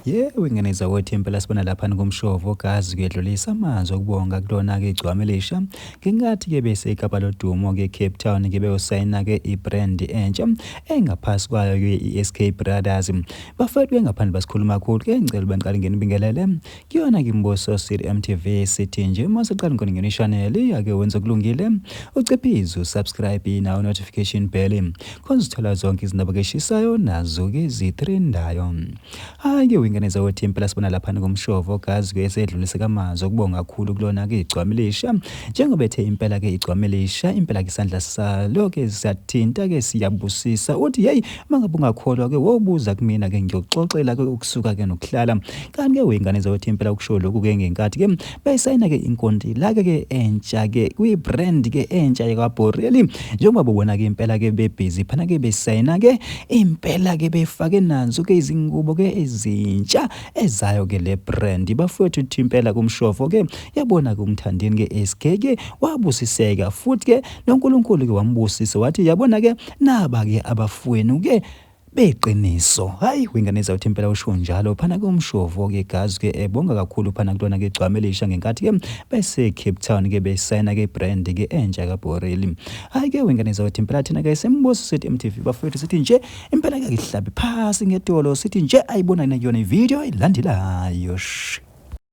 Yewe ngane zakwethu impela sibona lapha nikumshovo gazi kuyedlulisa amazwi okubonga kulona-ke igcwama elisha ngingathi-ke bese ikapa lodumo-ke cape town ke beyosayina-ke i-brand entsha engaphasi kwayo-ke i-sk brothers bafethu bengaphandle basikhuluma kakhulu ke ngicela uba ngiqale ngenibingelele Kuyona ke imbuso siri MTV sithi nje uma usuqala inkoningeni channel ake wenze kulungile uciphize usubscribe nawo notification bell khona uzithola zonke izindaba keshisayo nazo ke zitrendayo hayi ke wingane zawo team phela sibona lapha ngomshovo gazi ke esedlulise kamazwi okubonga kakhulu kulona ke igcwamilisha njengoba ethe impela ke igcwamilisha impela ke isandla salo ke siyathinta ke siyabusisa uthi hey Mangabe ungakholwa ke wobuza kumina ke ngiyoxoxela ke ukusuka ke nokuhlala. Kanti ke wengane zothi impela ukusho lokhu ke ngenkathi ke bayisayina ke inkonti la ke ke entsha ke kwi brand ke entsha yaka Borelli njengoba bobona ke impela ke be busy phana ke besayina ke impela ke befake nazo ke izingubo ke ezintsha ezayo ke le brand bafowethu thimpela kumshofo ke yabona ke umthandeni ke SK ke wabusiseka futhi ke noNkulunkulu-ke wambusisa wathi yabona-ke naba-ke abafowenu-ke beqiniso hayi wengane zawuthi impela usho njalo phana ke umshovo ke gazi ke ebonga kakhulu phana kulona ke gcwame lisha ngenkathi ke bese Cape Town ke besayina ke brand ke entsha ka Borelli hayi ke wengane zawuthi impela thina ke sembuso sithi MTV bafethu sithi nje impela ke ngihlabi phasi ngedolo sithi nje ayibona kuyona ivideo ilandelayo